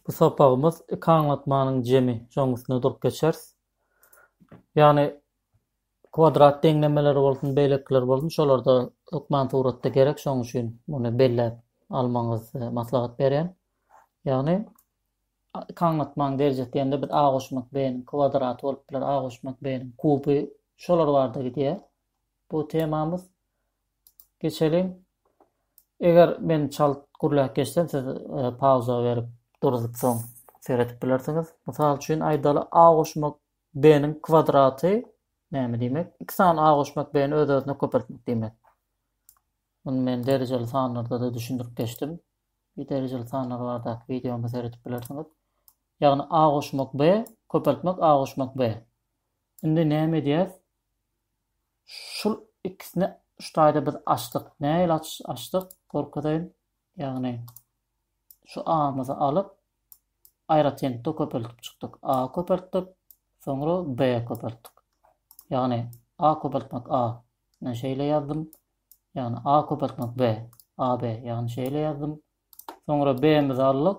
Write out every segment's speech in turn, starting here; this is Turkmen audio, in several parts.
Bu sapagymyz iki aňlatmanyň jemi joňusynda durup geçeris. Ýagny kwadrat deňlemeleri bolsun, beýlekiler bolsun, şolarda hökman suratda gerek, şonuň üçin muny belläp almagyňyzy maslahat berýän. Ýagny iki aňlatmanyň derejesi diýende biz a goşmak b-niň kwadraty bolup biler, a goşmak b-niň kuby, şolar barada gidýär. Bu temamyz. Geçeliň. Eger men çalt gürläp geçsem siz pauza berip duruzyp soň seredip bilersiňiz. Mysal üçin aýdaly a goşmak b-niň kwadraty näme diýmek? Iki sany a goşmak b-ni öz-özüne köpeltmek diýmek. Muny men derejeli sanlarda-da düşündirip geçdim. Bir derejeli sanlar bardaky wideomy seredip bilersiňiz. Ýagny a goşmak b köpeltmek a goşmak b. Indi näme edýäs? Şul ikisini şu taýda biz açdyk. Nähili açdyk? Görkezeýin. Ýagny şu A-myzy alyp, aýratynlykda köpeltip çykdyk. A köpeltdik, soňra B köpeltdik. Ýagny A köpeltmek A. Men şeýle ýazdym. Ýagny A köpeltmek B. AB. Ýagny şeýle ýazdym. Soňra B-mizi aldyk.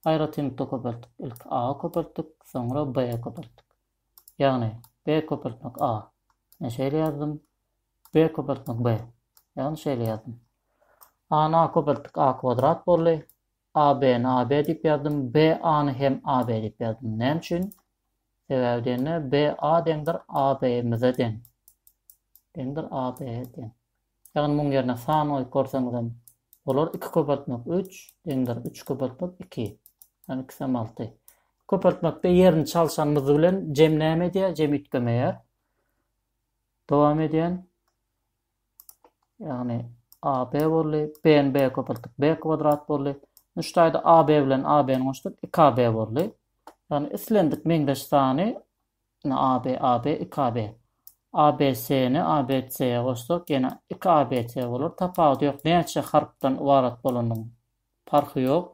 Aýratynlykda köpeltdik. Ilk A köpeltdik, soňra B köpeltdik. Ýagny B köpeltmek A. Men şeýle ýazdym. B köpeltmek B. Ýagny şeýle ýazdym. A-ny A köpeltdik, A kwadrat boldy. AB-ni AB diýip ýazdym. BA-ny hem AB diýip ýazdym. Näme üçin? Sebäbi diýende BA deňdir AB-mize deň. Deňdir AB-e deň. Ýagny muň ýerine san goýup görseňizem bolar, iki köpeltmek üç deňdir üç köpeltmek iki, ýagny ikisem alty. Köpeltmekde ýerini çalşan myzy bilen jem näme edýär? Jem üýtgemeýär. Dowam edýän. Ýagny AB boldy. B-ni B köpeltdik. B kwadrat boldy. Indi şu taýda AB bilen AB-ni goşdyk. 2AB boldy. Ýagny islendik meňzeş sany Ine AB, AB, iki AB. ABC-ni ABC-ýe goşsak ýene iki ABC bolar. Tapawudy ýok. Näçe harpdan ybarat bolanyň parhy ýok.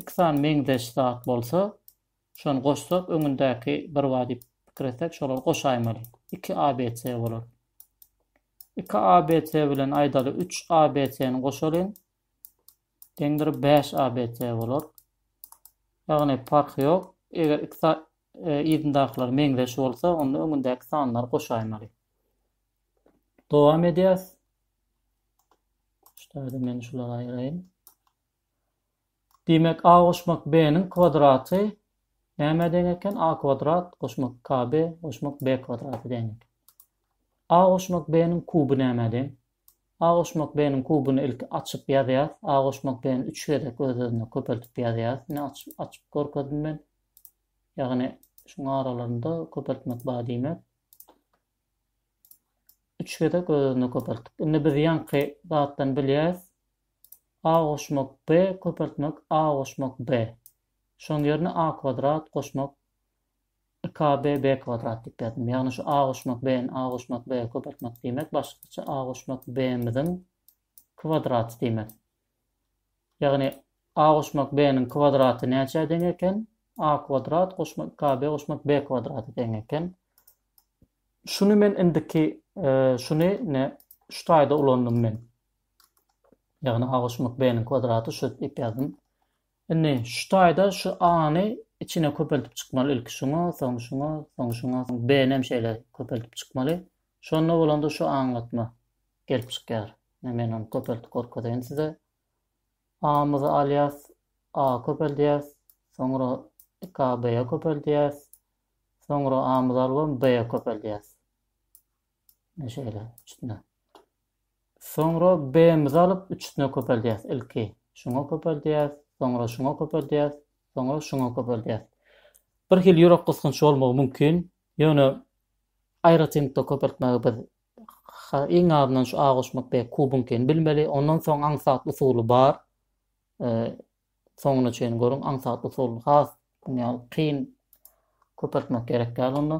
Iki sany meňzeş zat bolsa, şony goşsak öňündäki bir bar diýip pikir etsek şolary goşaýmaly. Iki ABC bolar. Iki ABC bilen aýdaly üç ABC-ni goşalyň. Deňdir 5 ABT bolar. Ýagny parhy ýok. Eger iki sa e, yzyndakylar meňzeş bolsa, onda öňündäki sanlary goşaýmaly. Dowam edýäs. Şularda men şulary aýraýyn. Diýmek, a goşmak b-niň kwadraty näme deň eken? a kwadrat goşmak kb goşmak b kwadraty deň eken. a goşmak b-niň kuby näme deň? A goşmak B-niň kubuny ilki açyp ýazýas. A goşmak B-ni üç gezek öz-özüne köpeltip ýazýas. Ine açyp açyp görkezdim men. Ýagny şuň aralarynda köpeltmek bar diýmek. Üç gezek öz-özüne köpeltdik. Indi biz ýaňky zatdan bilýäs. A goşmak B köpeltmek A goşmak B. Şoň ýerine A kwadrat goşmak IKBB kwadrat diýip ýazdym. Ýagny şu A goşmak B-ni A goşmak B-e köpeltmek diýmek, başgaça A goşmak B-miziň kwadraty diýmek. Ýagny A goşmak B-niň kwadraty näçä deň eken? A kwadrat goşmak IKB goşmak B kwadrata deň eken. Şuny men indiki e, şuny ne şu taýda ulandym men. Ýagny A goşmak B-niň kwadraty şu diýip ýazdym. Indi şu taýda şu A-ny içine köpeltip çykmaly ilki şuňa, soň şuňa, soň şuňa, soň B-ni hem şeýle köpeltip çykmaly. Şonda bolanda şu aňlatma gelip çykýar. Indi men ony köpeltip görkezeýin size. A-myzy alýas, A-a köpeldýäs, soňra iki A B-e köpeldýäs, soňra A-myzy alybam B-e köpeldýäs. Ine şeýle üçüsine. Soňra B-mizi alyp, üçüsine köpeldýäs ilki. Şuňa köpeldýäs, soňra şuňa köpeldýäs, soňra şuňa köpeldýäs. Bir hili ýürek gysgynç bolmagy mümkin, ýöne aýratynlykda köpeltmegi biz iň azyndan şu A goşmak B kubuňkyny bilmeli. Ondan soň aňsat usuly bar. Soňuna çenli görüň aňsat usulyny has muň ýaly kyn köpeltmek gerek däl onda.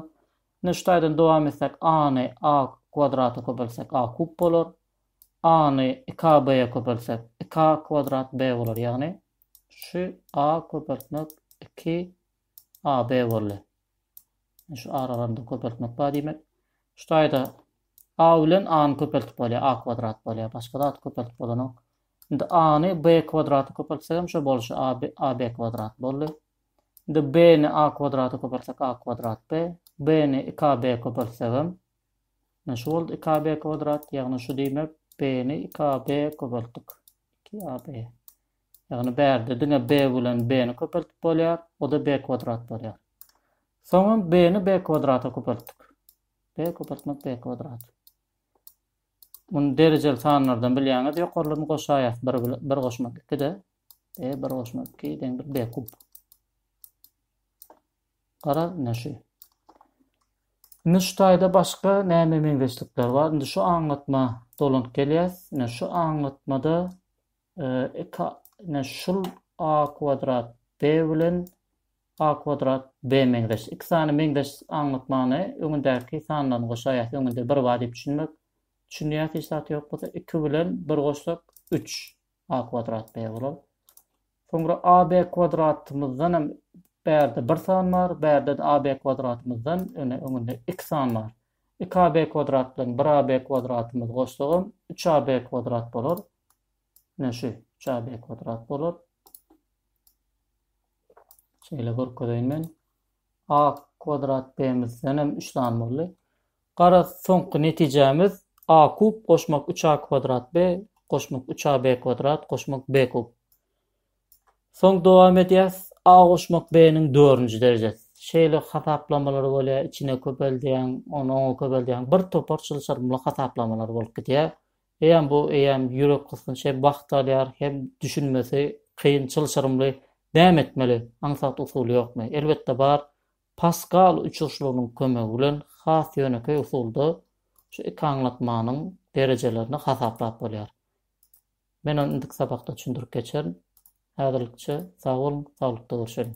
Indi şu taýdan dowam etsek a-ny a kwadrata köpeltsek a kub bolar. A-ny iki a b-e köpeltsek iki a kwadrat b bolar ýagny şu a köpeltmek iki a b boldy. Şu aralarynda köpeltmek bar diýmek. Şu taýda a bilen a-ny köpeltip bolýar a kwadrat bolýar başga zat köpeltip bolanok. Indi a-ny b kwadrata köpeltsek hem şo bolşy ab ab kwadrat boldy. Indi b-ni a kwadrata köpeltsek a kwadrat b, b-ni iki ab köpeltsek hem ne şu boldy iki ab kwadrat, ýagny şu diýmek b-ni iki ab köpeltdik. Iki ab. Ýagny bärde diňe b bilen b-ni köpeltip bolýar, o-da b kwadrat bolýar. Soňam b-ni b kwadrata köpeltdik. b köpeltmek b kwadrat. Muny derejeli sanlardan bilýäňiz. Ýokarlaryny goşaýas. 1 bilen 1 goşmak 2-de. E 1 goşmak 2 deňdir B kub. Garaz, ne şu. Indi şu taýda başga näme meňzeşlikler bar? Indi şu aňlatma dolanyp gelýäs. Ine şu aňlatmada e, iki ne şul a kwadrat b bilen A kwadrat, B meňzeş. Iki sany meňzeş aňlatmany öňündäki sandan goşaýas. Öňünde bir bar diýip düşünmek. Düşünýäs hiç zat ýok bolsa iki bilen bir goşsak üç A kwadrat, B bolar. Soňra AB kwadratymyzdan hem bärde bir san bar, bärde AB kwadratymyzdan öne öňünde iki san bar. Iki AB kwadrat bilen bir AB kwadratymyz goşsagam üç AB kwadrat bolar. Ine şu üç AB kwadrat bolar. Şeýle görkezeýin men. A kwadrat B-mizden hem üç sany boldy. Gara soňky netijämiz A kub goşmak 3A kwadrat B goşmak 3A B kwadrat goşmak B kub. Soň dowam edýäs. A goşmak B-niň dördünji derejesi. Şeýle hasaplamalar bolýar, içine köpeldýäň, ony oňa köpeldýäň. Bir topar çylşyrymly hasaplamalar bolup gidýär. Eýýäm bu eýýäm ýürek gysgynç hem wagt alýar hem düşünmesi kyn çylşyrymly näme etmeli aňsat usuly ýokmy? Elbetde bar Paskal uçuşlygynyň kömegi bilen has ýönekeý usulda şu iki aňlatmanyň derejelerini hasaplap bolýar. Men ony indiki sapakda düşündirip geçerin. Häzirlikçe sag boluň, saglykda görşeliň.